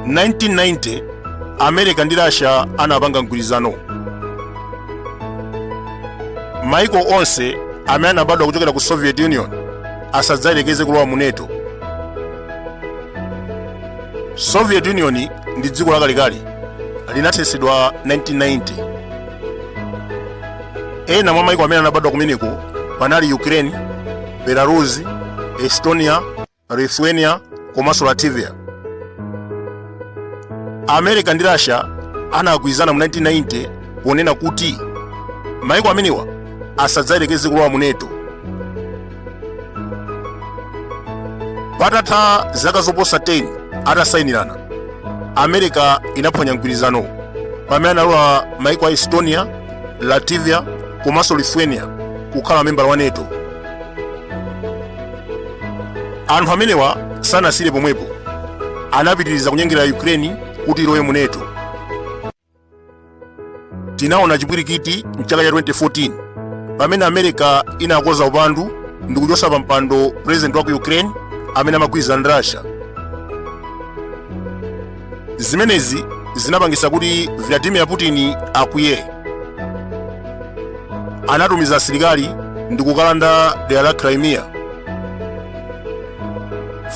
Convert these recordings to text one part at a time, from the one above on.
1990 america ndi russia anapanga mgwirizano maiko onse amene anabadwa kuchokera ku soviet union asadzayelekeze kulowa mu nato soviet union ndi dziko lakalekale linathetsedwa 1990 ena mwa maiko amene anabadwa kumeneko panali ukraine belarus estonia lithuania komanso latvia america ndi russia anagwirizana mu 1990 ponena kuti maiko amenewa asadzayerekeze kulowa mu nato patatha zaka zoposa 10 atasayinirana america inaphwanya mgwirizanowo pamene analola maiko a estonia latvia komanso lithuania kukhala mamembala wa nato anthu amenewa sanasire pomwepo anapitiriza kunyengerera ukraine kuti ilowe mu nato tinaona chipwirikiti mchaka cha 2014 pamene america inakoza upandu ndi kuchotsa pa mpando president wa ku ukraine amene amagwirizana ndi russia zimenezi zinapangitsa kuti vladimir putin akwiye anatumiza asilikali ndi kukalanda dera la crimea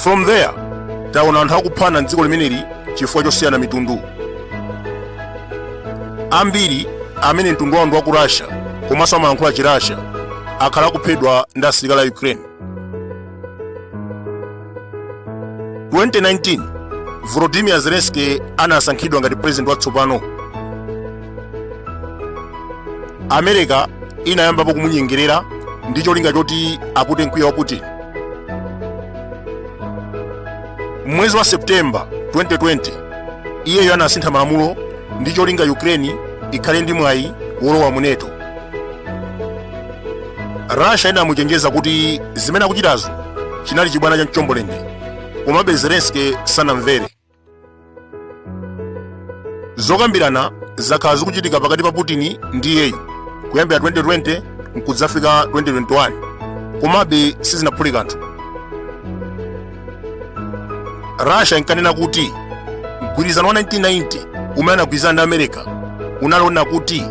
from there taona anthu akuphana mdziko limeneli chifukwa chosiyana mitundu ambiri amene mtundu wawo ndi wa ku russia komanso amalankhula chi russia akhala akuphedwa ndi asilikali a ukraine 2019 volodymyr zelensky anasankhidwa ngati president watsopano america inayambapo kumunyengerera ndi cholinga choti apute mkwiyo wa putin M'mwezi wa September 2020, iyeyo anasintha malamulo ndi cholinga Ukraine ikhale ndi mwayi wolowa mu NATO. Russia inamuchenjeza kuti zimene akuchitazo chinali chibwana cha mchombolende, komabe Zelensky sanamvere. zokambirana zakhala zikuchitika pakati pa putin ndi iyeyu kuyambira 2020 nkudzafika 2021 komabe sizinaphule kanthu russia inkanena kuti mgwirizano wa 1990 umene anagwirizana ndi america unali onena kuti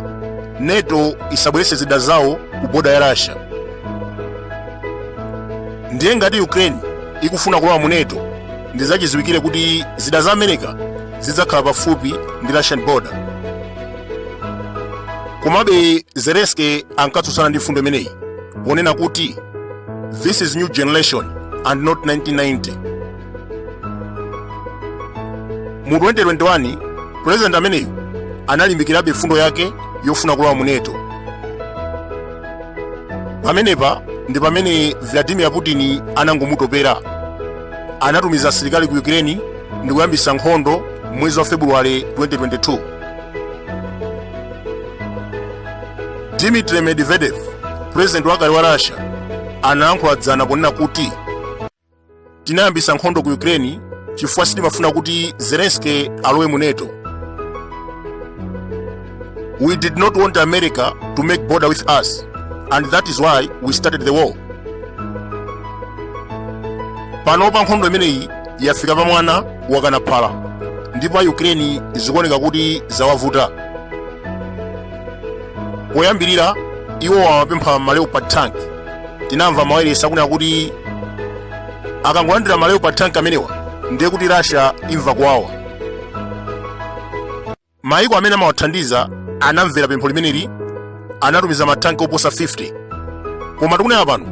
nato isabweretse zida zawo ku boda ya russia ndiye ngati ukraine ikufuna kulowa mu nato ndi zachiziwikire kuti zida za america zidzakhala pafupi ndi russian border komabe zelensky ankatsutsana ndi mfundo imeneyi ponena kuti this is new generation and not 1990 mu 2021 president ameneyu analimbikirabe mfundo yake yofuna kulowa mu nato pamenepa ndi pamene vladimir putin anangomutopera anatumiza asilikali ku Ukraine ndi kuyambisa nkhondo mwezi wa February 2022. Dmitry Medvedev, president wakale wa Russia, anayankhula dzana ponena kuti tinayambisa nkhondo ku Ukraine chifukwa sitimafuna kuti Zelensky alowe mu NATO. We did not want America to make border with us, and that is why we started the war. panopa nkhondo imeneyi yafika pa mwana wakana phala ndipo a ukraine zikuoneka kuti zawavuta poyambirira iwo amapempha maleopard tank tinamva mawayilesi akunena kuti akangolandira maleopard tank amenewa ndiye kuti russia imva kuwawa Mayiko amene amawathandiza anamvera pempho limeneli, anatumiza matanki oposa 50. Koma tikunena pano,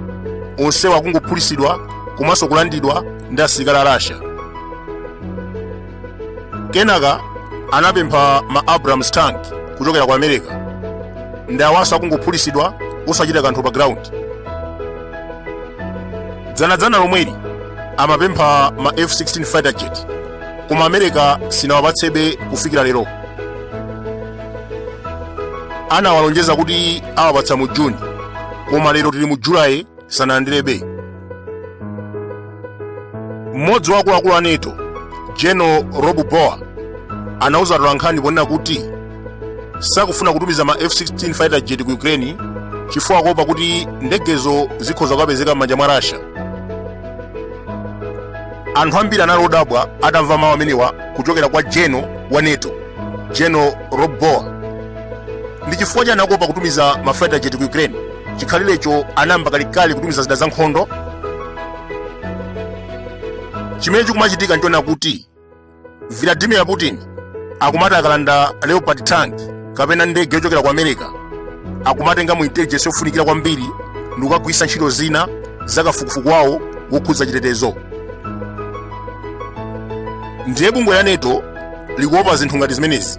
onsewa akungophulitsidwa komanso kulandidwa ndi asilikali a Russia. Kenaka anapempha ma Abrams tank kuchokera ku America. Ndi awanso akungophulitsidwa osachita kanthu pa ground. Dzanadzana lomweli amapempha ma F-16 fighter jet koma america sinawapatsebe kufikira lero anawalonjeza kuti awapatsa mu juni koma lero tili mu julayi sanalandirebe mmodzi wa akuluakulu a nato general rob bauer anauza atolankhani ponena kuti sakufuna kutumiza ma f-16 fighter jet ku ukraine chifukwa kuopa kuti ndegezo zikhoza kupezeka m'manja mwa russia anthu ambiri anali odabwa atamva mawu amenewa kuchokera kwa general wa nato general rob bauer ndi chifukwa chani akuopa kutumiza mafighter jet ku ukraine chikhalirecho anayamba kalekale kutumiza zida zankhondo chimene chikumachitika nchona kuti Vladimir Putin akumati akalanda Leopard tank kapena ndege yochokera ku America akumatenga mu intelligence yofunikira kwambiri ndi kukagwiritsa ntchito zina za kafukufuku wawo wokhudza chitetezo. Ndiye bungwe la NATO likuopa zinthu ngati zimenezi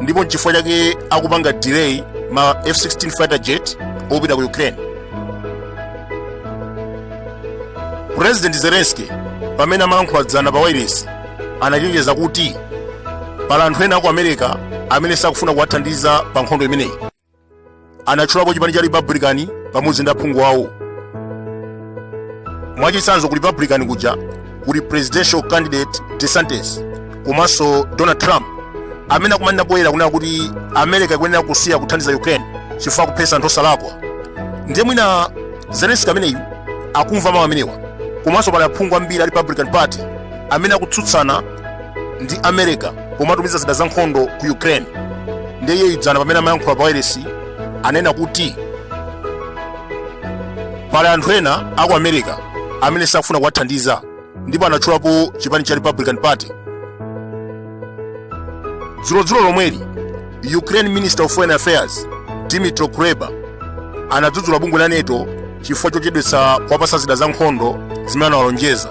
ndipo nchifukwa chake akupanga delay ma F-16 fighter jet opita ku Ukraine. purezidenti zelenski pamene amalankhula dzana pa wailesi anachenjeza kuti pali anthu ena aku america amene sakufuna kuwathandiza pa nkhondo imeneyi anatchulapo chipani cha republican pamodzi ndi aphungu awo mwachitsanzo ku republican kuja kuli presidential candidate desantis komanso donald trump amene akumanena poyera kunena kuti america ikuyenera kusiya kuthandiza ukraine chifukwa akuphetsa anthu osalakwa ndiye mwina zelenski ameneyu akumva mawu amenewa komanso pali aphungu ambiri a republican party amene akutsutsana ndi america pomatumiza zida za nkhondo ku ukraine ndiye iyeyu dzana pamene amayankhula pa wailesi anena kuti Pali anthu ena a ku America amene sakufuna kuwathandiza ndipo anatchulapo chipani cha Republican Party. Dzulodzulo lomweli, Ukraine Minister of Foreign Affairs Dmytro Kuleba anadzudzula bungwe la NATO chifukwa chochedwetsa kuwapatsa zida za nkhondo zimene anawalonjeza.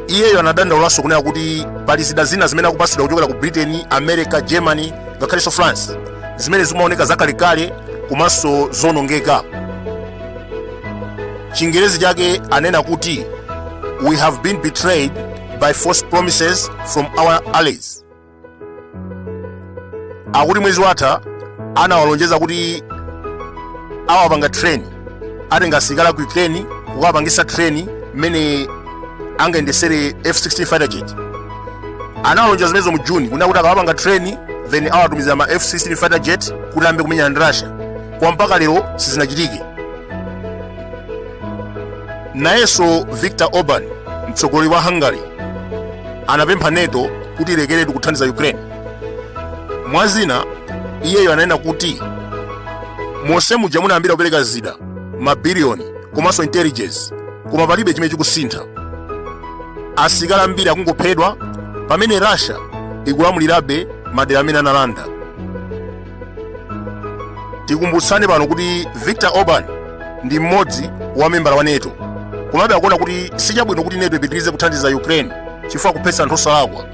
iyeyo anadandaulanso kunena kuti pali zida zina zimene akupatsidwa kuchokera ku britain america germany ngakhalenso france zimene zikumaoneka zakalekale komanso zonongeka chingerezi chake anena kuti we have been betrayed by false promises from our allies akuti mwezi watha anawalonjeza kuti awapanga train atenga asilikali ku ukraine kukawapangisa train mmene angayendesere f16 fighter jet anawalonjeza zimenezo mu june kunena kuti akawapanga train then awatumizira ma f16 fighter jet kuti ayambe kumenyana ndi russia koma mpaka lero sizinachitike Nayenso Viktor Orban, mtsogoleri wa Hungary, anapempha NATO kuti ilekeretu kuthandiza Ukraine. Mwa zina, iyeyo ananena kuti monse muja munayambira kupereka zida mabiliyoni komanso intelligence koma palibe chimene chikusintha. Asilikali ambiri akungophedwa pamene Russia ikulamulirabe madera amene analanda. tikumbutsane pano kuti victor orban ndi mmodzi wa membala wa nato komabe akuona kuti sichabwino kuti nato ipitirize kuthandiza ukraine chifukwa kuphetsa anthu osalakwa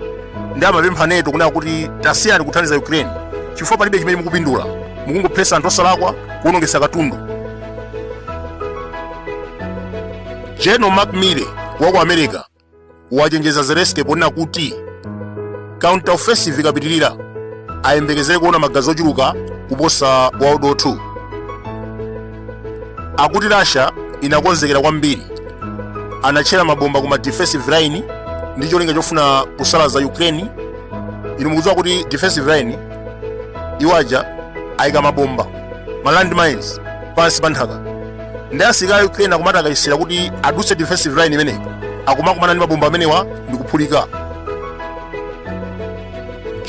ndiye amapempha nato kunena kuti tasiyani kuthandiza ukraine chifukwa palibe chimene mukupindula mukungophetsa anthu osalakwa kuwonongetsa katundu general mark milley wa ku america wachenjeza Zelensky ponena kuti counter offensive ikapitirira ayembekezere kuona magazi ochuluka kuposa World War II. Akuti Russia inakonzekera kwambiri, anatchera mabomba ku ma defensive line ndi cholinga chofuna kusalaza Ukraine. Inu mukudziwa kuti defensive line iwo aja ayika mabomba ma landmines pansi pa nthaka ndi asilikali a ukraine akumati akayesera kuti adutse defensive line imeneyi akumakumana ndi mabomba amenewa ndi kuphulika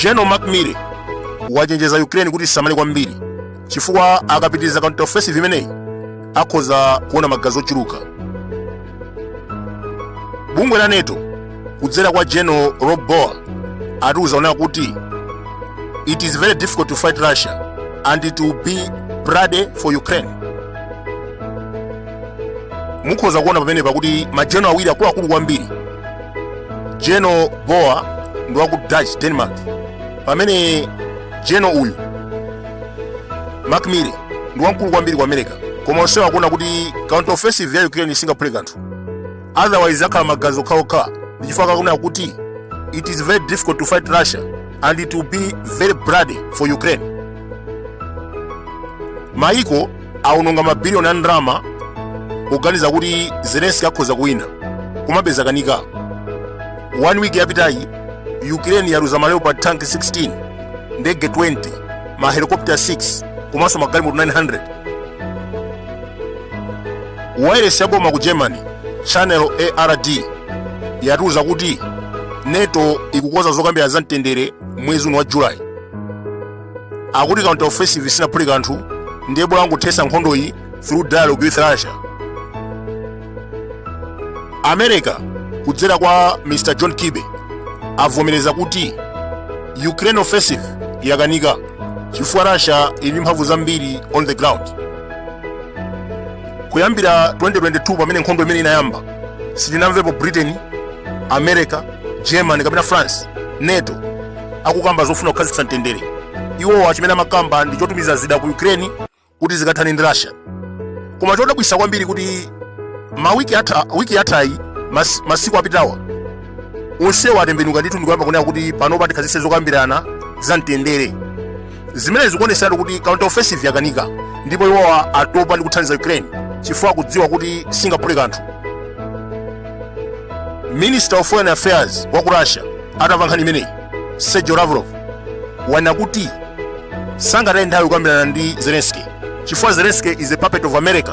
general mark milley wachenjeza ukraine kuti isamale kwambiri chifukwa akapitiriza counter offensive imeneyi akhoza kuona magazi ochuluka bungwe la nato kudzera kwa general rob bauer akutiuza kunena kuti it is very difficult to fight russia and it will be bloody for ukraine mukhoza kuona pamenepa kuti majeno awiri akuluakulu kwambiri jeno bauer ndi waku dutch denmark pamene jeno uyu mark milley ndi wamkulu kwambiri ku america koma onsewa akuona kuti counter offensive ya ukraine singaphule kanthu otherwise akhala magazi okhaokha ndi chifukwa chake akunena kuti it is very difficult to fight russia and it will be very bloody for ukraine maiko awononga mabiliyoni a ndalama kuganiza kuti zelenski akhoza kuwina komabe zakanika one week yapitayi ukraine yaluza ma leopard tank 16 ndege 20 ma helicopter 6 komanso magalimoto 900 wailesi ya boma ku germany channel ard yatiuza kuti nato ikukonza zokambirana za mtendere mwezi uno wa julayi akuti counter offensive sinaphule kanthu ndiye bola angothetsa nkhondoyi through dialogue with russia america kudzera kwa mr john kirby avomereza kuti ukraine's offensive yakanika chifukwa russia ili ndi mphamvu zambiri on the ground kuyambira 2022 pamene nkhondo imene inayamba sitinamvepo britain america germany kapena france nato akukamba zofuna kukhazikitsa mtendere iwowa chimene amakamba ndi chotumiza zida ku ukraine kuti zikathane ndi russia koma chodabwitsa kwambiri kuti wiki yathayi masiku apitawa onsewa atembenuka ndithu ndikuyamba kunena kuti panopa tikhazikitse zokambirana za mtendere zimenezi zikuonetseratu kuti counter offensive yakanika ndipo iwowa atopa ndi kuthandiza ukraine chifukwa akudziwa kuti singaphule kanthu minister of foreign affairs wa ku russia atamva nkhani imeneyi sergio lavrov wanena kuti sangataye nthawi kukambirana ndi zelenski chifukwa zelenski is a puppet of america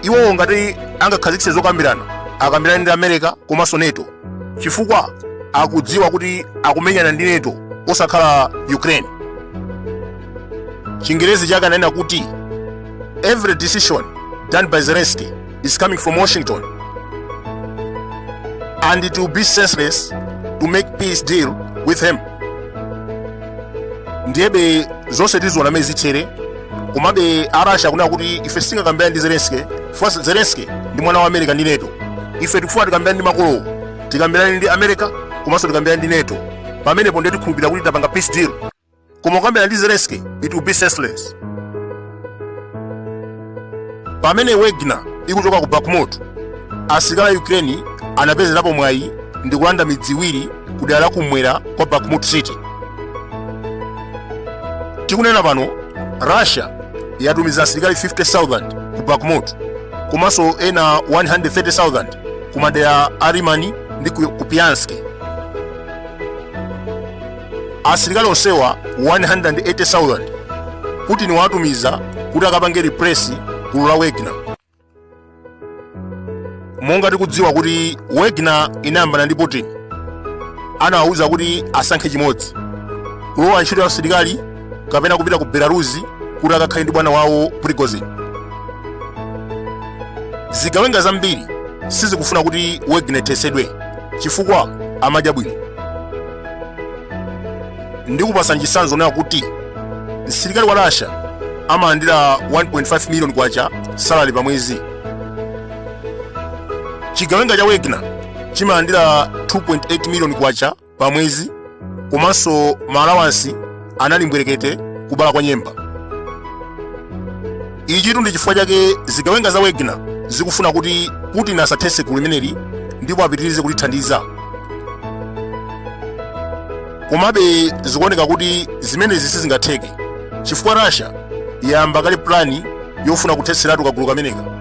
iwowo ngati angakhazikitse zokambirana akambirane ndi america komanso nato chifukwa akudziwa kuti akumenyana ndi NATO osakhala ukraine chingerezi chake ananena kuti every decision done by zelensky is coming from washington and it will be senseless to make peace deal with him ndiyebe zonse tiziona momwe zithere komabe arasha akunena kuti ife sitingakambirane ndi zelensky Chifukwa Zelensky ndi mwana wa America ndi NATO. Ife tikufuna tikambirane ndi makolowo. Tikambirane ndi America komanso tikambirane ndi NATO. Pamenepo ndiye tikhulupirira kuti tapanga peace deal. Koma kukambirana ndi Zelensky it will be senseless. Pamene Wagner ikuchoka ku Bakhmut, asilikali a Ukraine anapezerapo mwayi ndi kulanda midzi iwiri ku dera la kumwera kwa Bakhmut City. tikunena pano russia yatumiza asilikali 50000 ku bakhmut komanso ena 130000 ku madera a lyman ndi ku kupiansk asilikali onsewa 180000 putin watumiza kuti akapange replace gulu la wagner monga tikudziwa kuti wagner inayambana ndi putin anawawuza kuti asankhe chimodzi kulowa ntchito ya asilikali kapena kupita ku belarus kuti akakhale ndi bwana wawo prigozhin zigawenga zambiri sizikufuna kuti wagner ithetsedwe chifukwa amadya bwino ndikupatsani chitsanzo nawo kuti msilikali wa russia amalandira 1.5 miliyoni kwacha salary pa mwezi chigawenga cha wagner chimalandira 2.8 miliyoni kwacha pa mwezi komanso maalawansi anali mbwerekete kubala kwa nyemba ichitu ndi chifukwa chake zigawenga za wagner zikufuna kuti putin asathetse gulu limeneli ndipo apitirize kulithandiza komabe zikuoneka kuti zimenezi sizingatheke chifukwa russia yayamba kale pulani yofuna kuthetseratu kagulu kameneka